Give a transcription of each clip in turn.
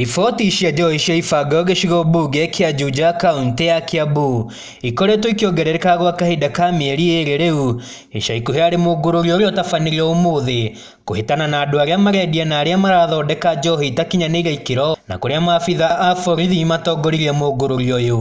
Riboti cia njohi cia ibanga gĩcigo mbunge kĩa Juja kaũntĩ ya Kiambu ikoretwo ikĩongerereka gwa kahinda ka mĩeri ĩrĩ rĩu. Ica ikuhĩ harĩ mũngũrũrio ũrĩa ũtabanĩrio ũmũthĩ kũhĩtana na andũ arĩa marendia na arĩa marathondeka njohi itakinyanĩire ikĩro na kũrĩa maabitha a borithi matongoririe mũngũrũrio ũyũ.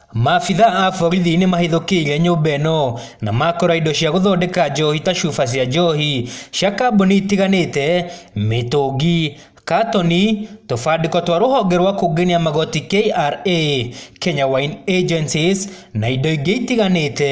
Maabitha a borithi nĩ mahithũkĩire nyũmba ĩno na makora indo cia gũthondeka njohi ta cuba cia njohi cia kambuni itiganĩte, mĩtũngi, katoni, tũbandĩko twa rũhonge rwa kũngania magoti KRA, Kenya Wine Agencies, na indo ingĩ itiganĩte.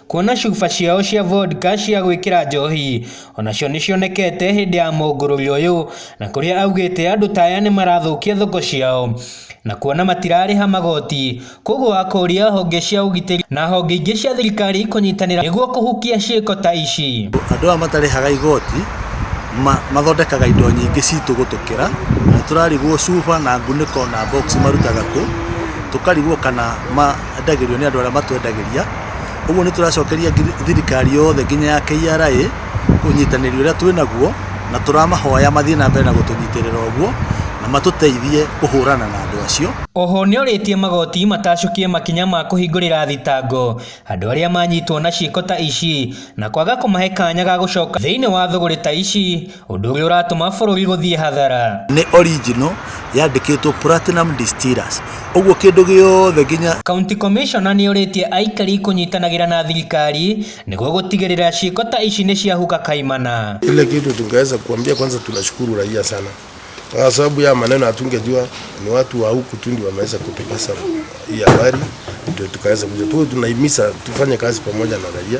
Kuona cuba ciao cia vodka cia gwĩkĩra njohi onacio nĩcionekete hĩndĩ ya mũngũrũri ũyũ na kũrĩa augĩte andũ ta aya nĩmarathũkia thoko ciao na kuona matirarĩha magoti kwoguo akoria honge cia ũgitĩri na honge ingĩ cia thirikari kũnyitanĩra nĩguo kũhukia ciĩko ta ici. Andũ aya matarĩhaga igoti ma, mathondekaga indo nyingĩ citũ gũtũkĩra na nĩtũrarigwo cuba na ngunĩko na box marutaga kũ, tũkarigwo kana ma endagĩrio nĩ andũ arĩa matwendagĩria. Ũguo nĩ tũracokeria thirikari yothe nginya ya KRA ũnyitanĩri ũrĩa twĩ naguo, na tũramahoya mathiĩ na mbere na gũtũnyitĩrĩra ũguo, na matũteithie kũhũrana na andũ acio. Oho nĩorĩtie magoti matacũkie makinya ma kũhingũrĩra thitango andũ arĩa manyitwo na ciĩko ta ici na kwaga kũmahe kanya ga gũcoka thĩinĩ wa thũgũrĩ ta ici. Ũndũ ũrĩa ũratũma bũrũri gũthiĩ hathara. Nĩ original yandĩkĩtwo Platinum Distillers. Ũguo kĩndũ gĩothe nginya. County Commissioner nĩ orĩtie aikari kũnyitanagĩra na thirikari nĩguo gũtigĩrĩra ciĩko ta ici nĩ ciahuka kaimana. Ile kitu tungeweza kuambia kwanza, tunashukuru raia sana kwa sababu ya maneno hatungejua ni watu wa huku tu ndio wameweza kutupasa hii habari, ndio tukaweza kuja tu. Tunahimiza tufanye kazi pamoja na raia.